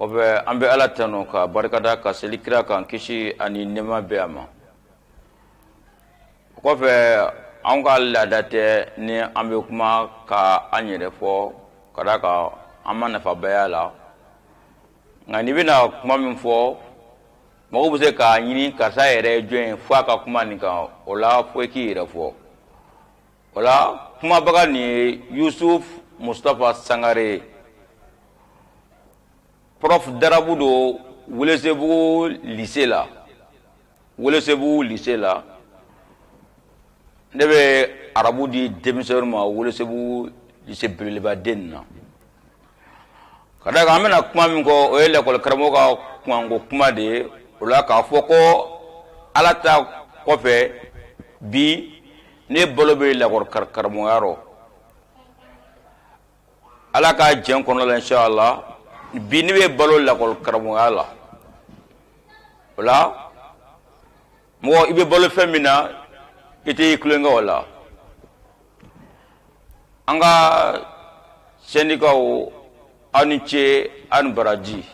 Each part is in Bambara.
O bɛ an bɛ ala tanu ka barika da ka seli kira kan kisi ani nɛma bɛ a ma o kɔfɛ an ka laada tɛ ni an bɛ kuma ka an yɛrɛ fɔ ka da kan a ma nafabaya la nka n'i bɛna kuma min fɔ mɔgɔ bɛ se k'a ɲini karisa yɛrɛ jɔn ye fo a ka kuma nin kan o la fo i k'i yɛrɛ fɔ o la kumabaga nin ye yusuf mustapha sangare ye prof darabu don welesebugu lise la welesebugu lise la ne bɛ arabu di denmisɛnw ma welesebugu lise belebeleba den na Ka da kan an bɛna kuma min kɔ o ye lakɔli karamɔgɔ ka kumako kuma de ye o la k'a fɔ ko ala ta kɔfɛ bi ne balo bɛ lakɔli karamɔgɔya rɔ ala ka jɛn kɔnɔ la inshallah bi ne bɛ balo lakɔli karamɔgɔya la o la mɔgɔ i bɛ balo fɛn min na i tɛ i tulonkɛ o la an ka sɛndikaw aw ni ce aw ni baraji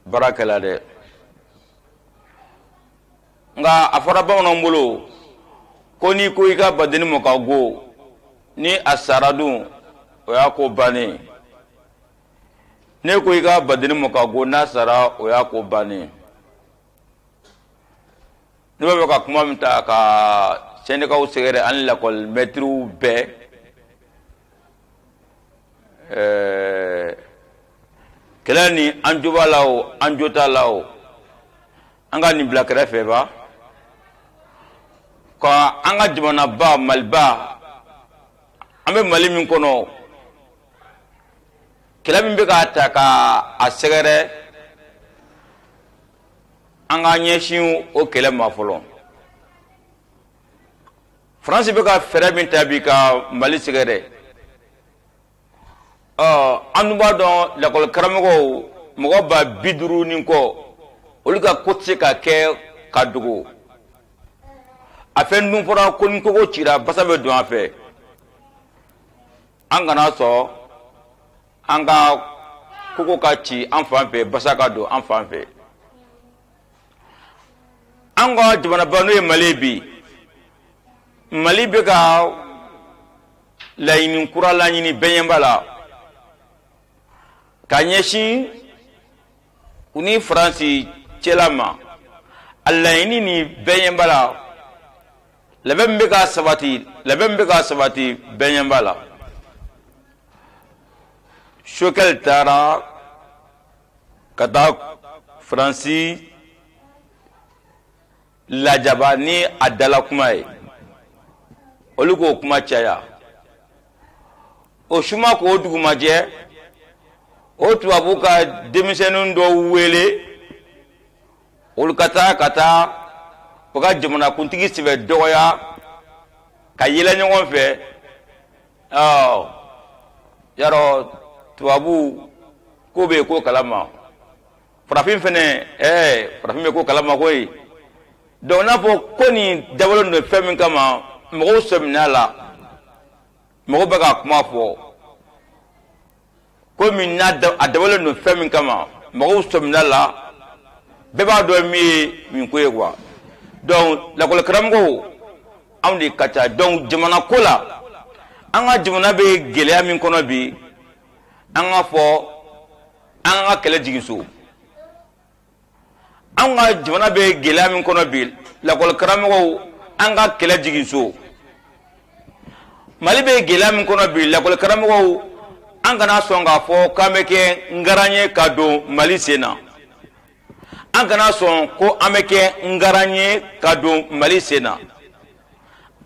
baara kɛla dɛ nka a fɔra bamananw bolo ko n'i ko i ka badenni mɔ ka go ni a sara dun o y'a ko bannen ne ko i ka badenni mɔ ka go n'a sara o y'a ko bannen Ne b'a fɛ ka kuma min ta ka sɛndikaw sɛgɛrɛ an lakɔli mɛtiriw bɛɛ kɛlɛ nin an jo b'a la o an jo t'a la o an ka nin bila kɛrɛfɛ ba ka an ka jamanaba maliba an bɛ mali min kɔnɔ kɛlɛ min bɛ k'a ta ka a sɛgɛrɛ an ka ɲɛsin o kɛlɛ ma fɔlɔ faransi bɛ ka fɛɛrɛ min ta bi ka mali sɛgɛrɛ ɔ an dun b'a dɔn lakɔli karamɔgɔw mɔgɔ ba bi duuru ni kɔ olu ka ko tɛ se ka kɛ ka dogo a fɛn dun fɔra ko ni kogo cira basa bɛ don a fɛ an kana sɔn an ka kogo ka ci an fan fɛ basa ka don an fan fɛ an ka jamanaba n'o ye mali bi mali bɛ ka laɲini kura laɲini bɛnyɛnba la ka ɲɛsin u ni faransi cɛla ma a laɲini ni bɛnyɛnba la labɛn bɛ ka sabati labɛn bɛ ka sabati bɛnyɛn b'a la choguel taara ka taa faransi lajaba ni a dala kuma ye olu k'o kuma caya o su ma ko dugu ma jɛ o tubabu ka denmisɛnnin dɔw wele olu ka taa ka taa u ka jamanakuntigi sɛbɛ dɔgɔya ka yɛlɛ ɲɔgɔn fɛ yarɔ tubabu k'o bɛ ko kalama farafin fɛnɛ ɛɛ farafin bɛ ko kalama koyi donc n'a fɔ ko nin dabɔlen don fɛn min kama mɔgɔw sɔmin'a la mɔgɔw bɛ ka kuma fɔ komi n'a a dabɔlen don fɛn min kama mɔgɔw sɔmin'a la bɛɛ b'a dɔn min ye nin ko ye quoi donc lakɔlikaramɔgɔw anw de ka ca donc jamana ko la an ka jamana bɛ gɛlɛya min kɔnɔ bi an ka fɔ an ka kɛlɛ jigin so an ka jamana bɛ gɛlɛya min kɔnɔ bi lakɔli karamɔgɔw an ka kɛlɛ jigin so mali bɛ gɛlɛya min kɔnɔ bi lakɔli karamɔgɔw an kana sɔn k'a fɔ k'an bɛ kɛ ngaran ye ka don mali sen na an kana sɔn ko an bɛ kɛ ngaran ye ka don mali sen na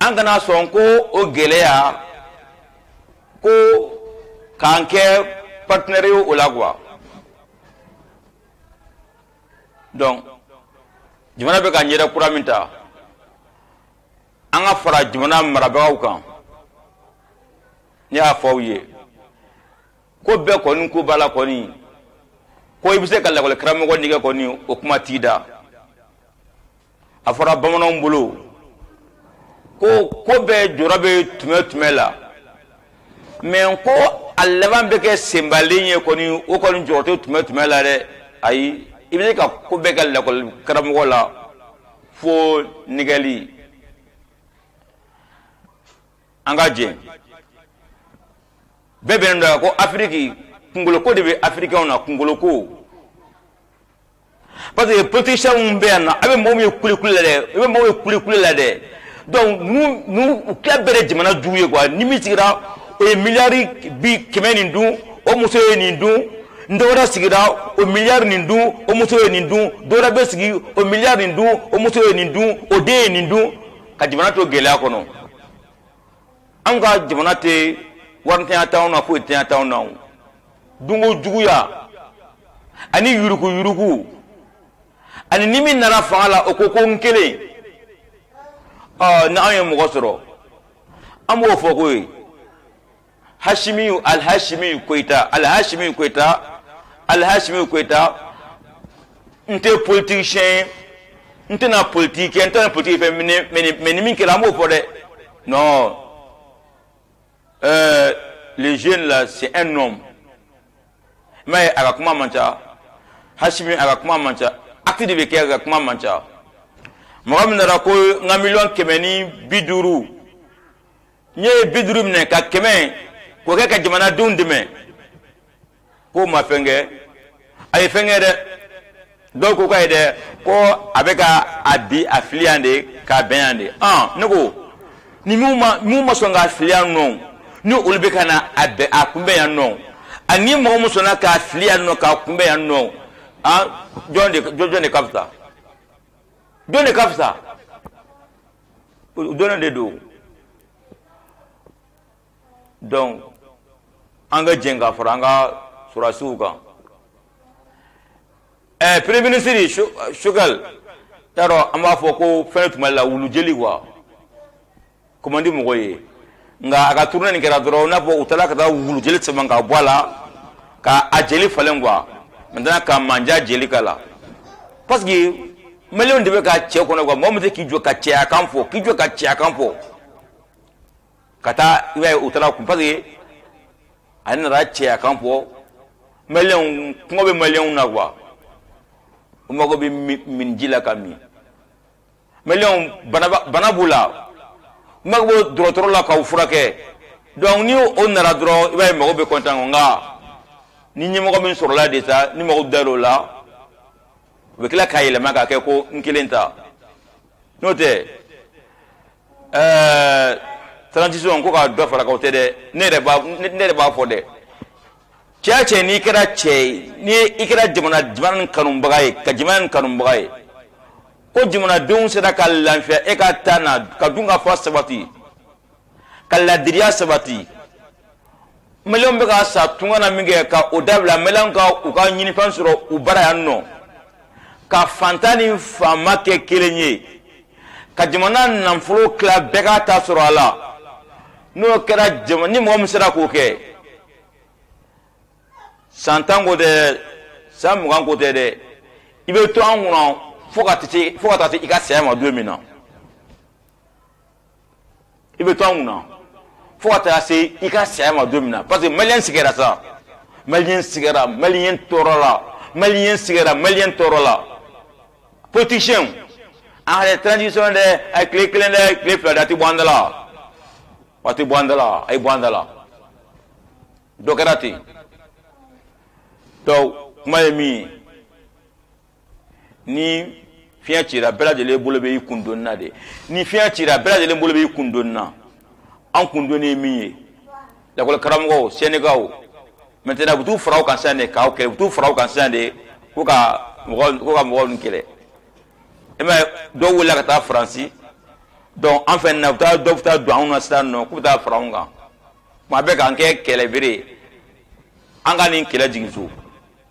an kana sɔn ko o gɛlɛya ko k'an kɛ partenaire ye o la quoi donc jamana bɛ ka ɲɛda kura min ta an ka fara jamana marabagaw kan ne y'a fɔ aw ye ko bɛɛ kɔni ko b'a la kɔni ko i bɛ se ka lakɔli karamɔgɔ nɛgɛn kɔni o kuma t'i da a fɔra bamananw bolo ko ko bɛɛ jɔrɔ bɛ tuma tuma la mais ko a laban bɛ kɛ senbalen ye kɔni o kɔni jɔrɔ tɛ tuma tuma la dɛ ayi i bɛ se ka ko bɛɛ kɛ lakɔli karamɔgɔ la fo nɛgɛli an ka jɛ bɛɛ bɛnnen don ko afiriki kungoloko de bɛ afirikɛnw na kungoloko parce que politiciens minnu bɛ yan nɔ a bɛ mɔgɔ minnu ye kulekule la dɛ i bɛ mɔgɔ minnu ye kulekule la dɛ donc ninnu u tila bɛrɛ jamana jugu ye quoi ni min sigira o ye miliyari bi kɛmɛ nin dun o muso ye nin dun n dɔwɛrɛ sigira o miliyari nin dun o muso ye nin dun dɔwɛrɛ bɛ sigi o miliyari nin dun o muso ye nin dun o den ye nin dun ka jamana to gɛlɛya kɔnɔ an ka jamana tɛ warintanya t'anw na foyintanya t'anw na dunko juguya ani yuruku yuruku ani ni min nana fanga la o ko ko n kelen na anw ye mɔgɔ sɔrɔ an b'o fɔ ko ye hasimiyu alihasimiyu koyita alihasimiyu koyita alihasimiyu koyita n tɛ politisiyɛn ye n tɛna politiki kɛ n tɛna politiki fɔ mɛ ni min kɛra an b'o fɔ dɛ non Euh, le jeune là, c'est un homme. Mais a ka kuma man ca, Hashimi a ka kuma man ca, acte de bɛ kɛ a ka kuma man ca. Mɔgɔ min nana ko n ka miliyɔn kɛmɛ ni bi duuru n ye bi duuru minɛ ka kɛmɛ k'o kɛ ka jamanadenw dɛmɛ k'o ma fɛn kɛ a ye fɛn kɛ dɛ dɔw ko k'a ye dɛ ko a bɛ ka a bɛ a fili yan de k'a bɛn yan de ɔn ne ko ni minnu ma minnu ma sɔn k'a fili yan nɔ ni olu bɛ ka na a bɛn a kunbɛn yan nɔ ani mɔgɔ min sɔnna k'a fili yan nɔ k'a kunbɛn yan nɔ an jɔn de jɔn de ka fisa jɔn de ka fisa o dɔnnen de don. dɔnku an ka jɛ ka fara an ka surasiw kan ɛɛ premier minisiri Choguel ta rɔ an b'a fɔ ko fɛn tun b'ale la wulujeli wa ko man di mɔgɔ ye nka a ka turunɛ nin kɛra dɔrɔn n'a fɔ u taara ka taa wulujeli saman k'a bɔ a la ka a jeli falen kuwa maintenant ka manja jeli k'a la parce que maliyɛnw de bɛ ka cɛ kɔnɔ kuwa mɔgɔ min tɛ k'i jɔ ka cɛyakan fɔ k'i jɔ ka cɛyakan fɔ ka taa i b'a ye u taara a kɔ parce que a nana cɛya kan fɔ maliyɛnw kɔngɔ bɛ maliyɛnw na kuwa u mago bɛ minji la ka min maliyɛnw bana b'u la u mago bɛ dɔgɔtɔrɔ la ka u furakɛ donc ni o nana dɔrɔn i b'a ye mɔgɔw bɛ kɔntan o nka ni ɲɛmɔgɔ min sɔrɔla de sa ni mɔgɔw dal'o la o bɛ tila k'a yɛlɛma k'a kɛ ko n kelen ta n'o tɛ ɛɛ transition ko ka dɔ far'a kan o tɛ dɛ ne yɛrɛ b'a ne yɛrɛ b'a fɔ dɛ cɛ o cɛ n'i kɛra cɛ ye ni i kɛra jamana jamana nin kanubaga ye ka jamana nin kanubaga ye ko jamanadenw sera ka lafiya e ka taa na ka dunkafa sabati ka laadiriya sabati maliyɛnw bɛ ka sa tunga na min kɛ ka o dabila maliyɛnw ka u ka ɲinifɛn sɔrɔ u bara yan nɔ ka fantan ni faama kɛ kelen ye ka jamana nafolo tila bɛɛ k'a ta sɔrɔ a la n'o kɛra ni mɔgɔ min sera k'o kɛ san tan ko tɛ san mugan ko tɛ dɛ i bɛ to an kun na fo ka taa se i ka saya ma don min na i bɛ to an kunna fo ka taa se i ka saya ma don min na parce que maliyɛn sigɛra sa maliyɛn sigɛra maliyɛn tɔɔrɔla maliyɛn sigɛra maliyɛn tɔɔrɔla politisiyɛnw an yɛrɛ transition dɛ a ye tile kelen dɛ tile fila dɛ a tɛ bɔ an da la a tɛ bɔ an da la a ye bɔ an da la dɔ kɛra ten donc kuma ye min ye ni fiɲɛ cira bɛɛ lajɛlen bolo bɛ i kundoni na de ni fiɲɛ cira bɛɛ lajɛlen bolo bɛ i kundoni na an kundoni ye min ye lakɔli karamɔgɔw sɛndikaw maintenant u t'u fara u kan sisan de k'aw kɛlɛ u t'u fara u kan sisan de ko ka mɔgɔ ko ka mɔgɔw kɛlɛ e ma dɔw wulila ka taa faransi dɔn an fɛ na u taa dɔw bɛ taa don anw na sisan nɔ k'u bɛ taa fara anw kan kuma bɛɛ k'an kɛ kɛlɛbere an ka nin kɛlɛ jigin so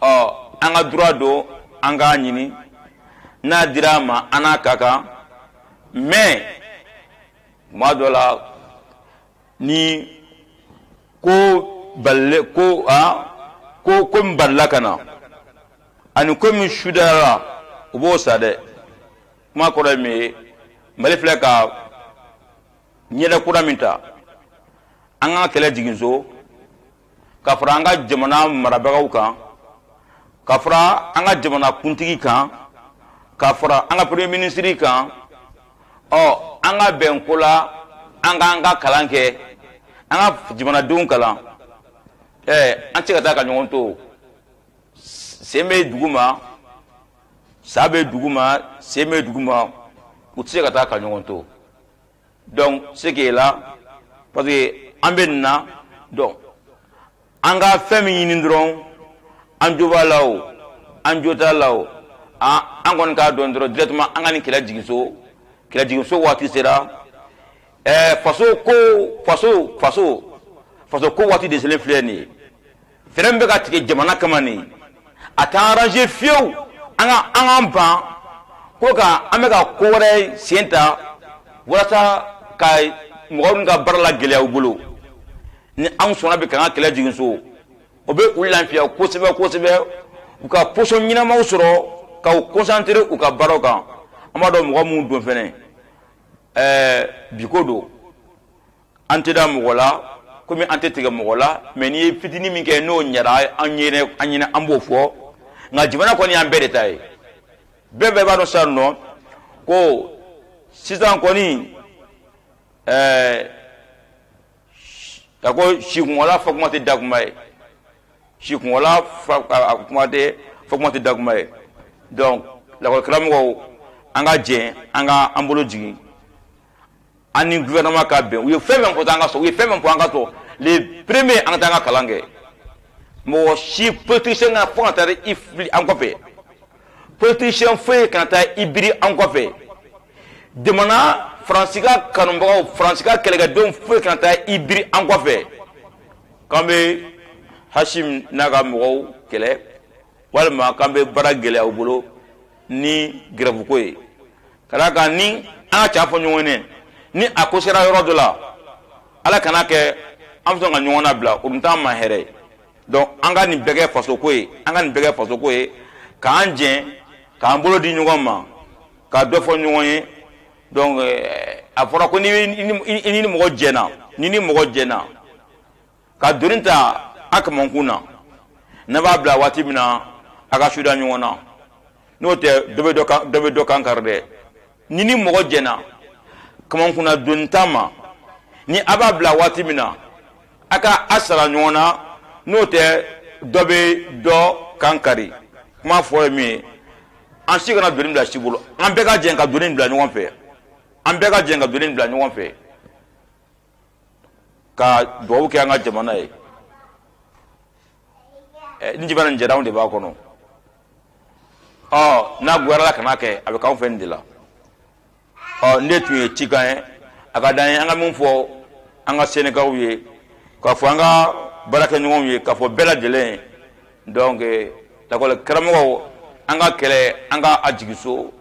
ɔ an ka droit don an k'a ɲini n'a dira an ma an n'a ka kan mais tuma dɔ la ni ko balile ko a ko ko min balila ka na ani ko min sudayara u b'o sa dɛ kuma kɔrɔ ye min ye mali filɛ ka ɲɛda kura min ta an ka kɛlɛ jigin so ka fara an ka jamana marabagaw kan ka fara an ka jamana kuntigi kan ka fara an ka premier minisiri kan ɔ an ka bɛn ko la an k'an ka kalan kɛ an ka jamanadenw kalan ɛɛ an tɛ se ka taa ka ɲɔgɔn to sen bɛ dugu ma sa bɛ dugu ma sen bɛ dugu ma u tɛ se ka taa ka ɲɔgɔn to donc ce qui est là parce que an bɛ nin na donc an ka fɛn min ɲini dɔrɔn an jo b'a la o an jo t'a la o ah, an kɔni k'a dɔn dɔrɔn directement an ka nin kɛlɛ jigin so kɛlɛ jigin so waati sera ɛɛ eh, faso ko faso faso faso ko waati de selen filɛ nin ye fɛɛrɛ min bɛ ka tigɛ jamana kama nin a tɛ an arranger fiyewu an ka an k'an ban ko ka an bɛ ka ko wɛrɛ sen ta walasa ka mɔgɔw nin ka baara lagɛlɛya u bolo ni anw sɔnna bi ka an ka kɛlɛ jigin so o bɛ u lafiya kosɛbɛ kosɛbɛ u ka position ɲɛnamaw sɔrɔ ka u concentrer u ka baaraw kan an b'a dɔn mɔgɔ minnu don fɛnɛ ɛɛ bi ko don an tɛ da mɔgɔ la komi an tɛ tigɛ mɔgɔ la mais n'i ye fitini min kɛ n'o ɲɛra an ɲɛ na an ɲɛ na an b'o fɔ nka jamana kɔni y'an bɛɛ de ta ye bɛɛ bɛɛ b'a dɔn sisan nɔ ko sisan kɔni ɛɛ a ko sikunwala fɔ kuma tɛ da kuma ye sikunwala fɔ kuma tɛ fɔ kuma tɛ da kuma ye donc lakɔlikaramɔgɔw an ka jɛn an ka an bolo jigin an ni gouvernement ka bɛn u ye fɛn fɛn fɔ an ka sɔn u ye fɛn fɛn fɔ an ka sɔn le premier an ka taa an ka kalan kɛ mɔgɔ si politicien kana fo ka taa i biri an kɔfɛ politicien foyi kana taa i biri an kɔfɛ jamana faransi ka kanubagaw faransi ka kɛlɛkɛdenw foyi kana taa i biri an kɔfɛ k'an bɛ asimi n'a ka mɔgɔw kɛlɛ walima k'an bɛ baara gɛlɛya u bolo ni grève ko ye ka d'a kan ni an ka ca fɔ ɲɔgɔn ye ni a ko sera yɔrɔ dɔ la ala kana kɛ an bɛ sɔn ka ɲɔgɔn nabila o dun t'an ma hɛrɛ ye donc an ka nin bɛɛ kɛ fasoko ye an ka nin bɛɛ kɛ fasoko ye k'an jɛn k'an bolo di ɲɔgɔn ma ka dɔ fɔ ɲɔgɔn ye donc eh, a fɔra ko n'i ni mɔgɔ jɛna n'i ni mɔgɔ jɛna ka doni ta a kamankun na n'a b'a bila waati min na a ka sara ɲɔgɔn na n'o tɛ dɔ bɛ dɔ kan kari dɛ n'i ni mɔgɔ jɛna kamankunna donita ma ni a b'a bila waati min na a ka a sara ɲɔgɔn na n'o tɛ dɔ bɛ dɔ kan kari kuma fɔ ye min ye an si kana doni bila si bolo an bɛɛ ka jɛn ka doni bila ɲɔgɔn fɛ an bɛɛ ka jɛn ka doni bila ɲɔgɔn fɛ ka dugawu kɛ an ka jamana ye eh, ni jamana nin diyara anw de b'a kɔnɔ ɔ n'a goyara ala kana kɛ a bɛ k'anw fɛ nin de la ɔ nin de tun ye cikan ye a ka d'an ye an ka min fɔ an ka sendikaw ye k'a fɔ an ka baarakɛɲɔgɔnw ye k'a fɔ bɛɛ lajɛlen donc lakɔli karamɔgɔw an ka kɛlɛ an ka a jigin so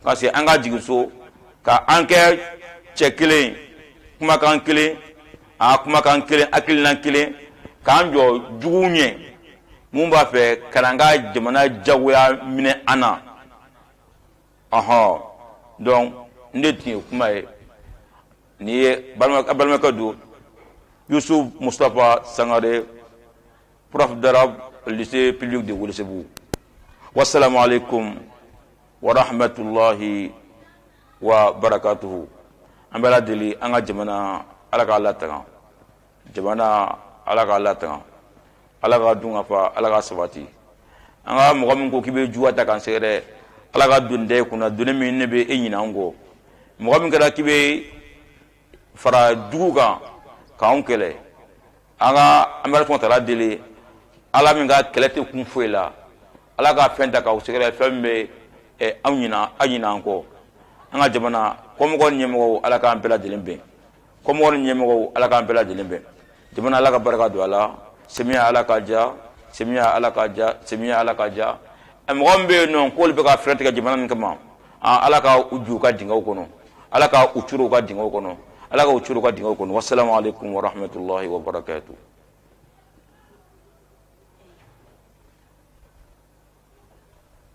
ka se an ka jigin so ka an kɛ cɛ kelen kumakan kelen a kumakan kelen hakilina kelen k'an jɔ juguw ɲɛ mun b'a fɛ ka na an ka jamana jagoya minɛ an na ɔhɔn donc nin de tun ye kuma ye nin ye balimakɛ don yusuf mustapha sangare prof d'arabe lycée public de welesebugu wasalaamu aleykum warahmatulahi wa barakatuhu an b'ala deli an ka jamana ala k'a latanga jamana ala k'a latanga ala ka dun ka fa ala ka sabati an ka mɔgɔ min ko k'i bɛ juguya ta k'an sɛgɛrɛ ala ka doni d'i kunna doni min ne bɛ e ɲinɛ an kɔ mɔgɔ min kɛra k'i bɛ fara jugu kan k'anw kɛlɛ an ka an bɛ ala tala deli ala min ka kɛlɛ tɛ kun foyi la ala ka fɛn ta k'aw sɛgɛrɛ fɛn min bɛ eh, anw ɲina aw ɲina an kɔ an ka jamana kɔmɔgɔ ni ɲɛmɔgɔw ala k'an bɛɛ lajɛlen bɛn kɔmɔgɔ ni ɲɛmɔgɔw ala k'an bɛɛ lajɛlen bɛn jamana ala ka barika don a la samiya ala k'a diya samiya ala k'a diya samiya ala k'a diya mɔgɔ min bɛ yen n'u k'olu bɛ ka fɛɛrɛ tigɛ jamana nin kama ala ka u ju ka dingɛw kɔnɔ ala ka u curu ka dingɛw kɔnɔ ala ka u curu ka dingɛw kɔnɔ wasalamu aleykum wa rahmatulahi wa barakatu